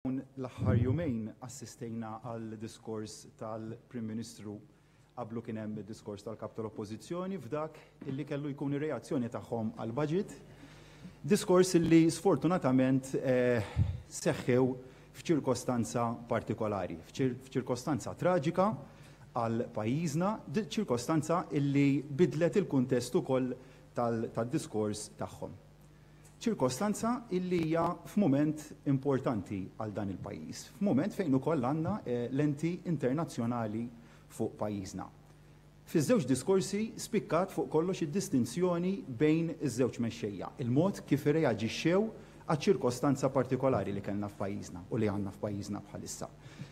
Dawn l-aħħar jumejn assistejna għal diskors tal-Prim Ministru qablu kien hemm id-diskors tal-Kap tal-Oppożizzjoni f'dak illi kellu jkun ir-reazzjoni tagħhom għall-Budget. Diskors illi sfortunatament seħħew f'ċirkostanza partikolari, f'ċirkostanza traġika għal pajjiżna, ċirkostanza illi bidlet il-kuntest ukoll tad-diskors tagħhom. ċirkostanza illi hija f'mument importanti għal dan il-pajjiż, f'mument fejn ukoll għandna lenti internazzjonali fuq pajjiżna. Fiż-żewġ diskorsi spikkat fuq kollox id-distinzjoni bejn iż-żewġ mexxejja, il-mod kif irreaġixxew għaċ-ċirkostanza partikolari li kellna f'pajjiżna u li għandna f'pajjiżna bħalissa.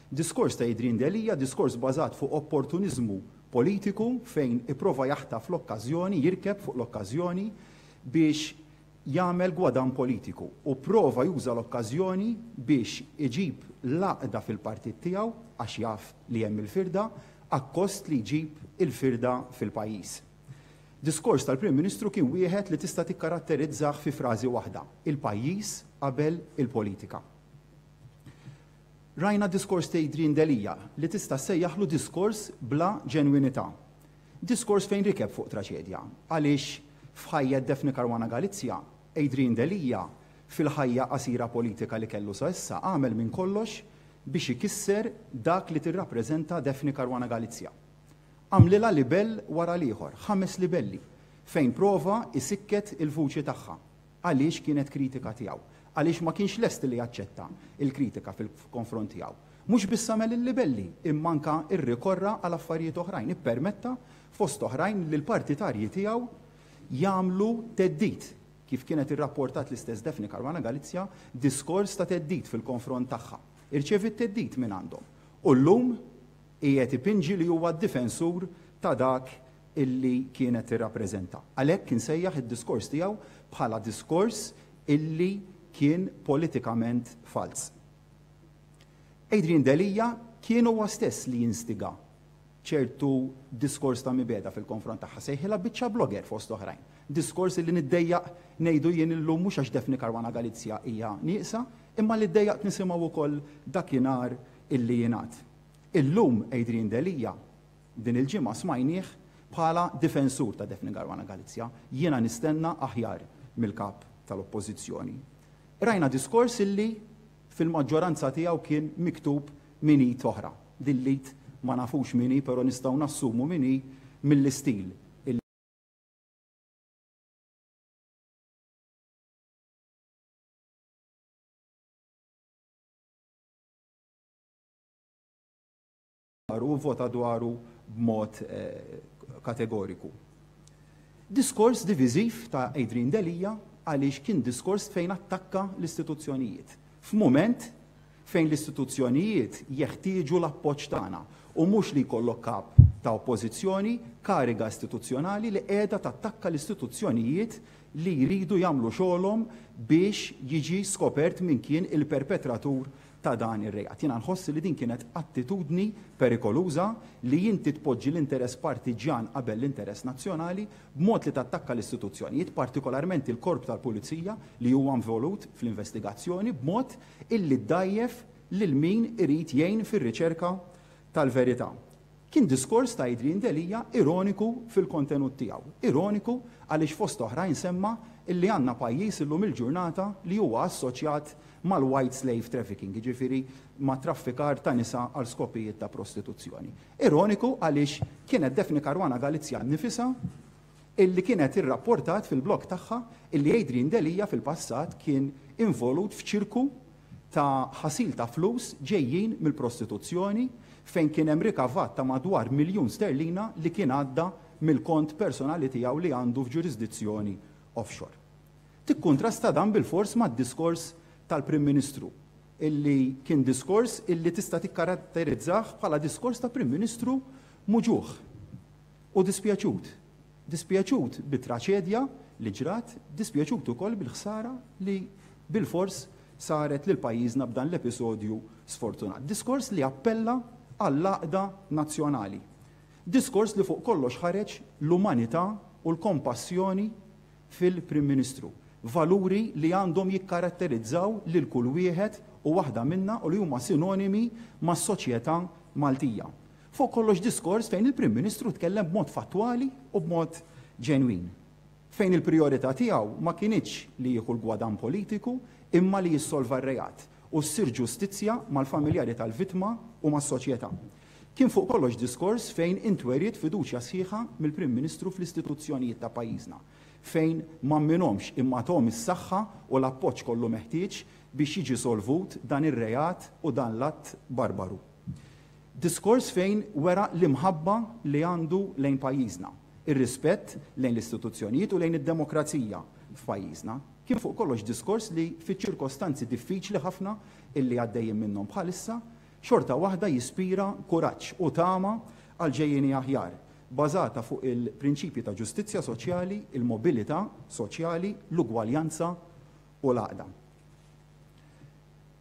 Diskors ta' Adrian Delia, diskors bbażat fuq opportuniżmu politiku fejn ipprova jaħtaf l-okkażjoni, jirkeb fuq l-okkażjoni biex jagħmel gwadann politiku u pprova juża l-okkażjoni biex iġib l-għaqda fil-partit tiegħu għax jaf li hemm il-firda akkost li jġib il-firda fil-pajjiż. Diskors tal-Prim Ministru kien wieħed li tista' tikkaratterizzah fi frażi waħda, il-pajjiż qabel il-politika. Rajna d-diskors t'Adrian Delia li tista' ssejjaħlu diskors bla ġenwinità. Diskors fejn rikeb fuq traċedja. Għaliex f'ħajja d-Daphne Caruana Galizia, Adrian Delia, fil-ħajja qasira politika li kellu sa issa, għamel minn kollox biex ikisser dak li tirrappreżenta Daphne Caruana Galizia. Għamlilha libell wara l-ieħor, ħames libelli, fejn prova isikket il-vuċi tagħha. Għaliex kienet kritika tiegħu? Għaliex ma kienx lest li jaċċetta l-kritika fil-konfront tiegħu. Mhux biss għamel il-libelli, imma anke rrikorra għal affarijiet oħrajn. Ippermetta, fost oħrajn, li l-partitarji tiegħu jagħmlu theddid, kif kienet irrapportat l-istess Daphne Caruana Galizia, diskors ta' theddid fil-konfront tagħha. Irċeviet theddid mingħandhom. U llum Qiegħed ipinġi li huwa d-difensur ta' dak illi kienet tirrappreżenta. Għalhekk insejjaħ id-diskors tiegħu bħala diskors illi kien politikament falz. Adrian Delia kien huwa stess li instiga ċertu diskors ta' mibegħda fil-konfront tagħha. Sejħilha biċċa blogger fost oħrajn. Diskors illi niddejjaq ngħidu jien illum mhux għax Daphne Caruana Galizia hija nieqsa, imma li ddejjaqt nisimgħu wkoll dakinhar illi jingħad. Illum Adrian Delia, din il-ġimgħa smajnieh bħala difensur ta' Daphne Caruana Galizia. Jiena nistenna aħjar mill-Kap tal-Oppożizzjoni. Qrajna diskors illi fil-maġġoranza tiegħu kien miktub minn id oħra. Din l-id ma nafux min hi però nistgħu nassumu min hi mill-istil illi. u vvota dwaru b'mod kategoriku. Diskors diviżiv ta' Adrian Delia għaliex kien diskors fejn attakka l-istituzzjonijiet f'mument fejn l-istituzzjonijiet jeħtieġu l-appoġġ tagħna u mhux li jkollok kap ta' oppożizzjoni, kariga istituzzjonali li qiegħda tattakka l-istituzzjonijiet li jridu jagħmlu xogħolhom biex jiġi skopert min kien il-perpetratur ta' dan ir-reat. Jiena nħoss li din kienet attitudni perikoluża li inti tpoġġi l-interess partiġġjan qabel l-interess nazzjonali b'mod li tattakka l-istituzzjonijiet, partikolarment il-Korp tal-Pulizija li huwa involut fl-investigazzjoni b'mod illi ddgħajjef lil min irid jgħin fir-riċerka tal-verità. Kien diskors ta' Adrian Delia ironiku fil-kontenut tiegħu. Ironiku għaliex fost oħrajn semma illi għandna pajjiż illum il-ġurnata li huwa assoċjat mal-white slave trafficking, jiġifieri mat-traffikar ta' nisa għal skopijiet ta' prostituzzjoni. Ironiku għaliex kienet Daphne Caruana Galizia nnifisha illi kienet irrapportat fil-blog tagħha illi Adrian Delia fil-passat kien involut f'ċirku ta' ħasil ta' flus ġejjin mill-prostituzzjoni fejn kien hemm rikavat ta' madwar miljun sterlina li kien għadda mill-kont personali tiegħu li għandu f'ġurisdizzjoni offshore. Tikkuntrasta dan bilfors mad-diskors tal-Prim Ministru illi kien diskors illi tista' tikkaratterizzah bħala diskors ta' Prim Ministru muġugħ u dispjaċut. Dispjaċut bit-traċedja li ġrat, dispjaċut ukoll bil-ħsara li bilfors saret lil pajjiżna b'dan l-episodju sfortunat. Diskors li appella għall-għaqda nazzjonali. Diskors li fuq kollox ħareġ l-umanità u l-kompassjoni fil-Prim Ministru. Valuri li għandhom jikkaratterizzaw lil kull wieħed u waħda minna u li huma sinonimi mas-soċjetà Maltija. Fuq kollox diskors fejn il-Prim Ministru tkellem b'mod fattwali u b'mod ġenwin. Fejn il-prijorità tiegħu ma kinitx li jieħu l-gwadann politiku imma li jissolva r-reat u ssir ġustizzja mal-familjari tal-vittma u mas-soċjetà. Kien fuq kollox diskors fejn intweriet fiduċja sħiħa mill-Prim Ministru fl-istituzzjonijiet ta' pajjiżna, fejn m'amminhomx imma thom is-saħħa u l-appoġġ kollu meħtieġ biex jiġi solvut dan ir-reat u dan l-att barbaru. Diskors fejn wera l-imħabba li għandu lejn pajjiżna, ir-rispett lejn l-istituzzjonijiet u lejn id-demokrazija f'pajjiżna. Kien fuq kollox diskors li fiċ-ċirkostanzi diffiċli ħafna illi għaddejjin minnhom bħalissa, xorta waħda jispira kuraġġ u tama għal ġejjieni aħjar, bażata fuq il-prinċipji ta' ġustizzja soċjali, il-mobilità soċjali, l-ugwaljanza u l-għaqda.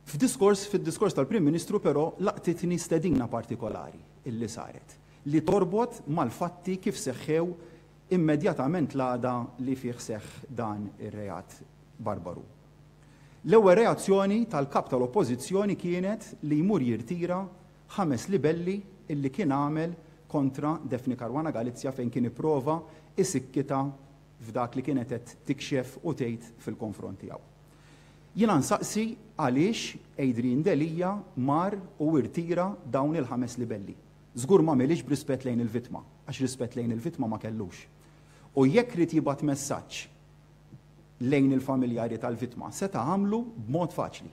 F'diskors, fid-diskors tal-Prim Ministru però laqtitni stedina partikolari li saret, li torbot mal-fatti kif seħħew immedjatament l-għada li fih seħħ dan ir-reat barbaru. L-ewwel reazzjoni tal-Kap tal-Oppożizzjoni kienet li jmur jirtira ħames libelli li kien għamel kontra Daphne Caruana Galizia fejn kien ipprova jsikkitha f'dak li kienet qed tikxef u tgħid fil-konfront tiegħu. Jiena nsaqsi għaliex Adrian Delia mar u irtira dawn il-ħames libelli. Żgur m'għamilhiex b'rispett lejn il-vittma, għax rispett lejn il-vittma ma kellux. U jekk ried jibgħat messaġġ lejn il-familjari tal-vittma, seta' għamlu b'mod faċli.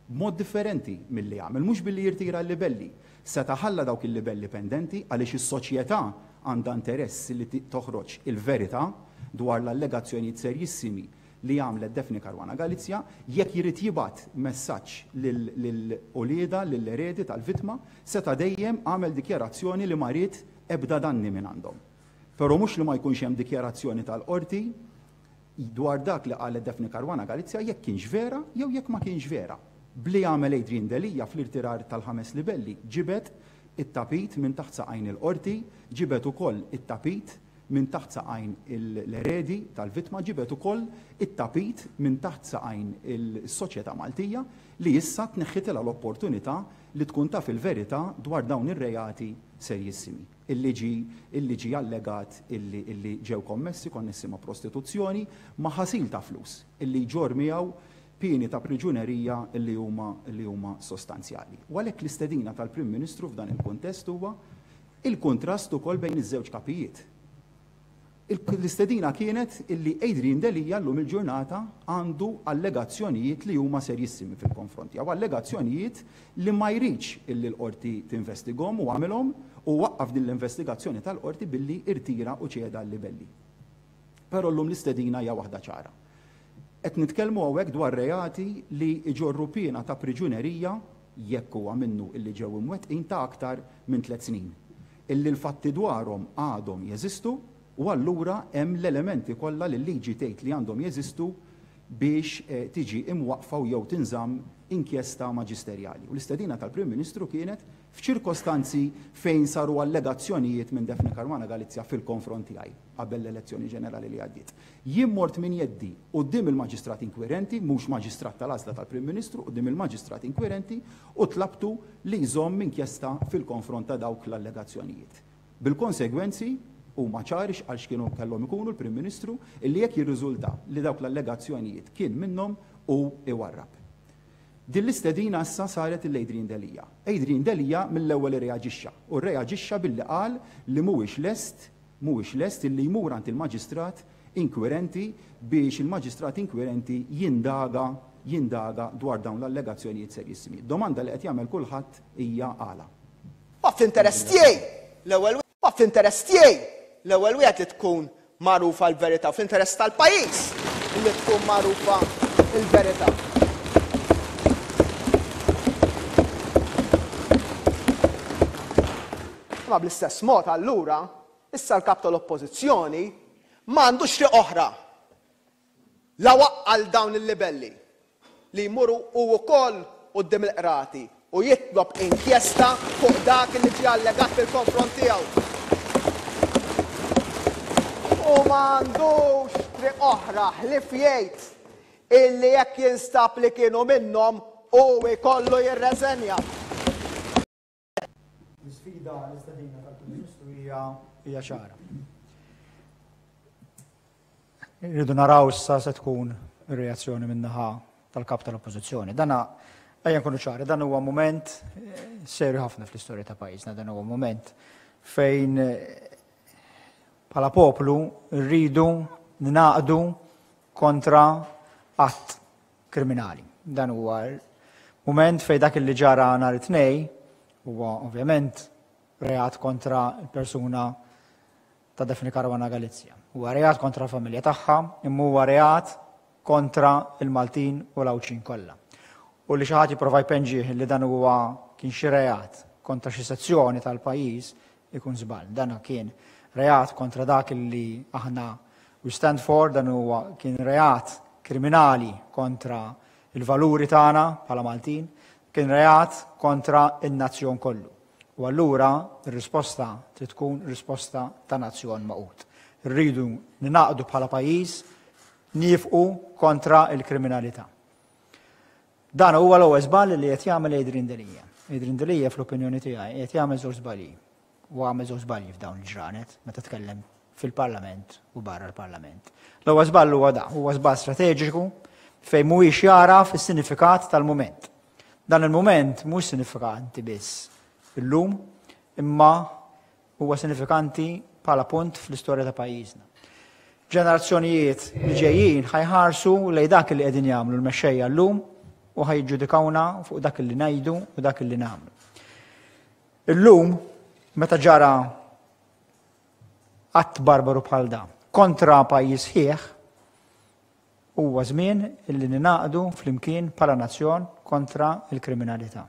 B'mod differenti milli għamel, mhux billi jirtira l-libelli. Seta' ħalla dawk il-libelli pendenti għaliex is-soċjetà għandha interess li toħroġ il-verità dwar l-allegazzjonijiet serjissimi li għamlet Daphne Caruana Galizia, jekk jrid jibgħat messaġġ lil uliedha, lill-eredi tal-vittma, seta' dejjem għamel dikjarazzjoni li ma ried ebda danni mingħandhom. Però mhux li ma jkunx hemm dikjarazzjoni tal-Qorti dwar dak li qalet Daphne Caruana Galizia jekk kienx vera jew jekk ma kienx vera. B'li għamel Adrian Delia fl-irtirar tal-ħames livelli, ġibed it-tapit minn taħt saqajn il-Qorti, ġibed ukoll it-tapit, minn taħt saqajn l-eredi tal-vittma ġibed ukoll it-tapit minn taħt saqajn is-soċjetà Maltija li issa tneħħitilha l-opportunità li tkun taf il-verità dwar dawn ir-reati serjissimi illi ġie allegat illi ġew kommessi konnessi ma' prostituzzjoni ma' ħasil ta' flus illi jġorr miegħu pieni ta' priġunerija illi huma sostanzjali. U għalhekk l-istedina tal-Prim Ministru f'dan il-kuntest huwa Il-kuntrast ukoll bejn iż-żewġ kapijiet. L-istedina kienet illi Adrian Delia llum il-ġurnata għandu allegazzjonijiet li huma serjissimi fil-konfront tiegħu, allegazzjonijiet li ma jridx illi l-Qorti tinvestigahom u għamilhom u waqqaf din l-investigazzjoni tal-Qorti billi rtira u ċeda l-libelli. Però llum l-istedina hija waħda ċara. Qed nitkellmu hawnhekk dwar reati li jġorru piena ta' priġunerija jekk huwa minnu illi ġew imwettqin ta' aktar minn tliet snin, illi l-fatti dwarhom għadhom jeżistu u allura hemm l-elementi kollha li l-liġi tgħid li għandhom jeżistu biex tiġi imwaqqfa u jew tinżamm inkjesta maġisterjali. U l-istedina tal-Prim Ministru kienet f'ċirkostanzi fejn saru allegazzjonijiet minn Daphne Caruana Galizia fil-konfront tiegħi. qabel l-elezzjoni ġenerali li għaddiet. Jien mort minn jeddi quddiem il-Maġistrat Inkwirenti, mhux Maġistrat tal-Għażla tal-Prim Ministru, quddiem il-Maġistrat Inkwirenti u tlabtu li jżomm inkjesta fil-konfront ta' dawk l-allegazzjonijiet. Bil-konsegwenzi, huma ċari x'qal x'kienu kellhom ikunu l-Prim Ministru, illi jekk jirriżulta li dawk l-allegazzjonijiet kien minnhom, hu jwarrab. Din l-istedina issa saret lil Adrian Delia. Adrian Delia mill-ewwel irreaġixxa, u rreaġixxa billi qal li mhuwiex lest mhuwiex lest illi jmur għand il-maġistrat inkwirenti biex il-maġistrat inkwirenti jindaga jindaga dwar dawn l-allegazzjonijiet serjissimi. Domanda li qed jagħmel kulħadd hija għala. Huwa fl-interess tiegħi l-ewwel wieħed huwa fl-interess tiegħi l-ewwel wieħed li tkun magħrufa l-verità u fl-interess tal-pajjiż illi tkun magħrufa l-verità. Imma bl-istess mod, allura, issa l-Kap tal-Oppożizzjoni ma għandux triq oħra, la waqqal dawn il-libelli, li jmur hu wkoll quddiem il-Qrati u jitlob inkjesta fuq dak li ġie allegat fil-konfront tiegħu, u ma għandux triq oħra ħlief jgħid illi jekk jinstab li kienu minnhom hu jkollu jirreżenja. L-isfida l-istadina tal-Prim Ministru hija hija ċara. Irridu naraw issa se tkun ir-reazzjoni min-naħa tal-kap tal-Oppożizzjoni. Dana ejja nkunu ċari, dan huwa mument eh, serju ħafna fl-istorja ta' pajjiżna, dan huwa mument fejn bħala poplu rridu naqdu kontra att kriminali. Dan huwa mument fejn dak li ġara nhar it-Tnejn huwa ovvjament reat kontra l-persuna ta' Daphne Caruana Galizia. Huwa reat kontra l-familja tagħha, imma huwa reat kontra l-Maltin u l-Għawdxin kollha. U li xi ħadd jipprova jpenġih li dan huwa kien xi reat kontra xi sezzjoni tal-pajjiż, ikun żball. Dan kien reat kontra dak li aħna we stand for, dan huwa kien reat kriminali kontra l-valuri tagħna bħala Maltin, kien reat kontra n-nazzjon kollu. U allura r-risposta trid tkun risposta ta' nazzjon magħqud. Rridu ningħaqdu bħala pajjiż nifqu kontra l-kriminalità. Dan huwa l-ewwel żball li qed jagħmel Adrian Delia. Adrian Delia fl-opinjoni tiegħi qed jagħmel żewġ żbalji. U għamel żewġ żbalji f'dawn il-ġranet meta tkellem fil-Parlament u barra l-Parlament. L-ewwel żball huwa da, huwa żball strateġiku fejn mhuwiex jara fis-sinifikat tal-mument. Dan il-mument mhux sinifikanti biss illum, imma Huwa sinifikanti bħala punt fl-istorja ta' pajjiżna. Ġenerazzjonijiet li ġejjin ħajħarsu lejn dak li qegħdin jagħmlu l-mexxejja llum u ħajġġudikawna fuq dak li ngħidu u dak li nagħmlu. Illum meta ġara att barbaru bħal dan kontra pajjiż ħieħ huwa żmien illi ninaqdu flimkien bħala nazzjon kontra l-kriminalità.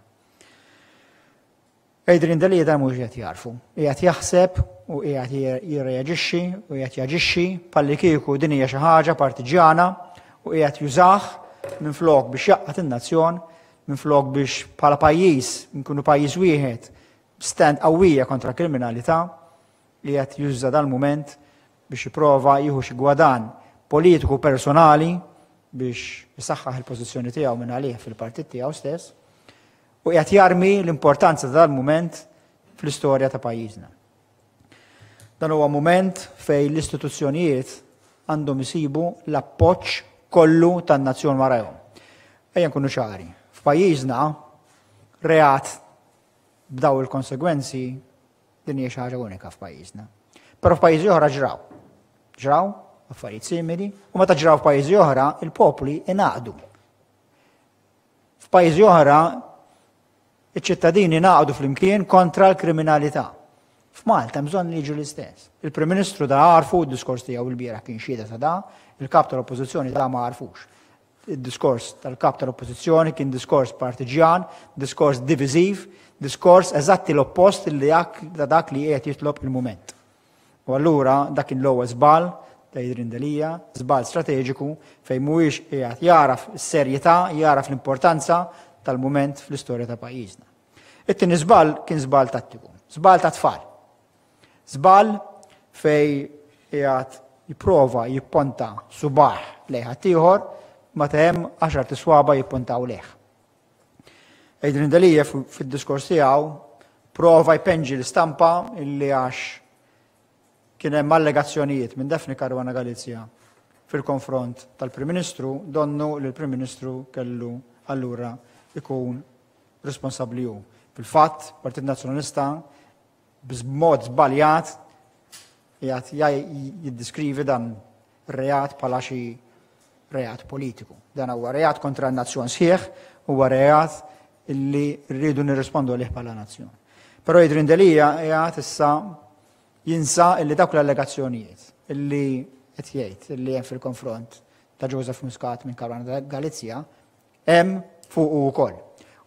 Adrian Delia mhux qiegħed jagħrfu. Qiegħed jaħseb u qiegħed jirreaġixxi u qiegħed jaġixxi bħallikieku din hija xi ħaġa partiġjana u qiegħed jużah minflok biex jaqgħad in-nazzjon, minflok biex bħala pajjiż nkunu pajjiż wieħed stand qawwija kontra kriminalità li qed juża dal-mument biex jipprova jieħu xi gwadan politiku personali biex jisaxħaħ il-pożizzjoni tiegħu minn għalih fil-partit tiegħu stess. U qiegħed jarmi l-importanza ta' dal-mument fl-istorja ta' pajjiżna. Dan huwa mument fejn l-istituzzjonijiet għandhom isibu l-appoġġ kollu tan-nazzjon warajhom. Ejja nkunu ċari, f'pajjiżna reat b'daw il-konsegwenzi din hija xi ħaġa unika f'pajjiżna. Però f'pajjiżi oħra ġraw. Ġraw affarijiet simili u meta ġraw f'pajjiżi oħra il-popli ingħaqdu. F'pajjiżi oħra, iċ-ċittadini ngħaqdu flimkien kontra l-kriminalità. F'Malta hemm bżonn li jiġu l-istess. Il-Prim Ministru da għarfu d-diskors tiegħu l-bieraħ kien xieda ta' da, il-kap tal-Oppożizzjoni da ma għarfux. Id-diskors tal-kap tal-Oppożizzjoni kien diskors partiġjan, diskors diviżiv, diskors eżatti l-oppost li dak li qiegħed jitlob il-mument. U allura dak kien l-ewwel żball ta' Adrian Delia, żball strateġiku fejn mhuwiex qiegħed jagħraf is-serjetà, jagħraf l-importanza tal-mument fl-istorja ta' pajjiżna. It-tieni żball kien żball tattiku, żball ta' tfal. Żball fejn qiegħed jipprova jipponta subah lejn ħaddieħor meta hemm għaxart iswaba jippuntaw lejh. Adrian Delia fid-diskors tiegħu prova jpenġi l-istampa illi għax kien hemm allegazzjonijiet minn Daphne Caruana Galizja fil-konfront tal-Prim Ministru donnu li l-Prim Ministru kellu allura ikun responsabbli hu. Fil-fatt, Partit Nazzjonalista b'mod żbaljat qiegħed jiddiskrivi dan ir-reat bħala xi reat politiku. Dan huwa reat kontra n-nazzjon sħiħ, huwa reat li rridu nirrispondu għalih bħala nazzjon. Però jidrin delija qiegħed issa jinsa illi dawk l-allegazzjonijiet illi qed jgħid illi hemm fil-konfront ta' Joseph Muscat minn Karwana Galizja hemm fuq ukoll.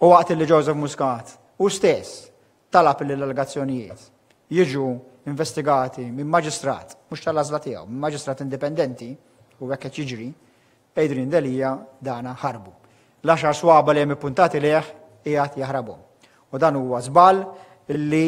U waqt illi Joseph Muscat u stess talab li l-allegazzjonijiet jiġu investigati minn maġistrat, mhux tal-għażla tiegħu, minn maġistrat indipendenti, u hekk qed jiġri, Adrian Delia dana ħarbu. L-għaxar swaba li hemm ippuntati lejh qiegħed jaħrabhom. U dan huwa żball li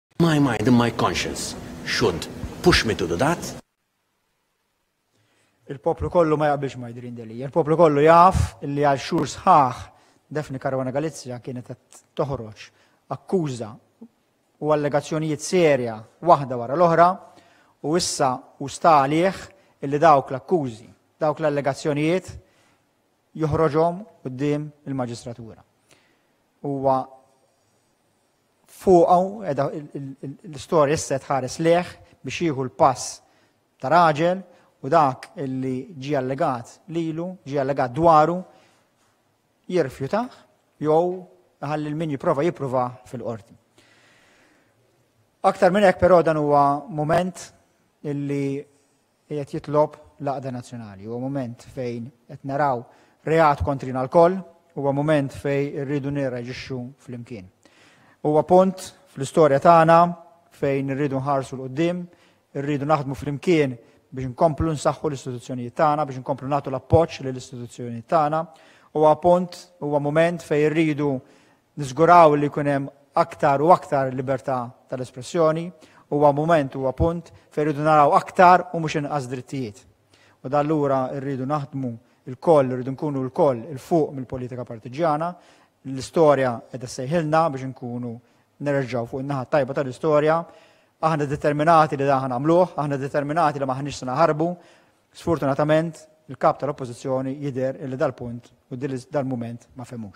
My mind and my conscience should push me to do that. Il-poplu kollu ma jaqbilx ma jidrin deli. Il-poplu kollu jaf li għal xur sħaħ Defni Karwana Galizja kienet qed toħroġ akkuża u allegazzjonijiet serja waħda wara l-oħra u issa u sta għalih illi dawk l-akkużi, dawk l-allegazzjonijiet joħroġhom quddiem il-maġistratura. Huwa Fuqha qiegħda l-istorja issa tħares lejh biex jieħu l-pass ta' raġel u dak li ġie allegat lilu, ġie allegat dwaru, jirrifjutah jew iħalli lil min jipprova jipprova fil-qorti. Aktar minn hekk però dan huwa mument illi Qiegħed jitlob l-għaqda nazzjonali. Huwa mument fejn qed naraw reat kontrina lkoll, huwa mument fejn irridu nirreaġixxu flimkien. Huwa punt fl-istorja tagħna fejn irridu nħarsu 'l quddiem, irridu naħdmu flimkien biex nkomplu nsaħħu l-istituzzjonijiet tagħna, biex nkomplu nagħtu l-appoġġ lill-istituzzjonijiet tagħna. Huwa punt, huwa mument fejn irridu Niżguraw li jkun hemm aktar u aktar libertà tal-espressjoni, huwa mument, huwa punt fejn irridu naraw aktar u mhux inqas drittijiet. U dan lura rridu naħdmu lkoll, irridu nkunu lkoll 'il fuq mill-politika partiġġjana. L-istorja qiegħda ssejħilna biex inkunu nerġgħu fuq in-naħa t-tajba tal-istorja. Aħna determinati li dan ħa nagħmluh, aħna determinati li m'aħniex se naħarbu. Sfortunatament, il-Kap tal-Oppożizzjoni jidher li dal-punt u dal-mument ma fehmux.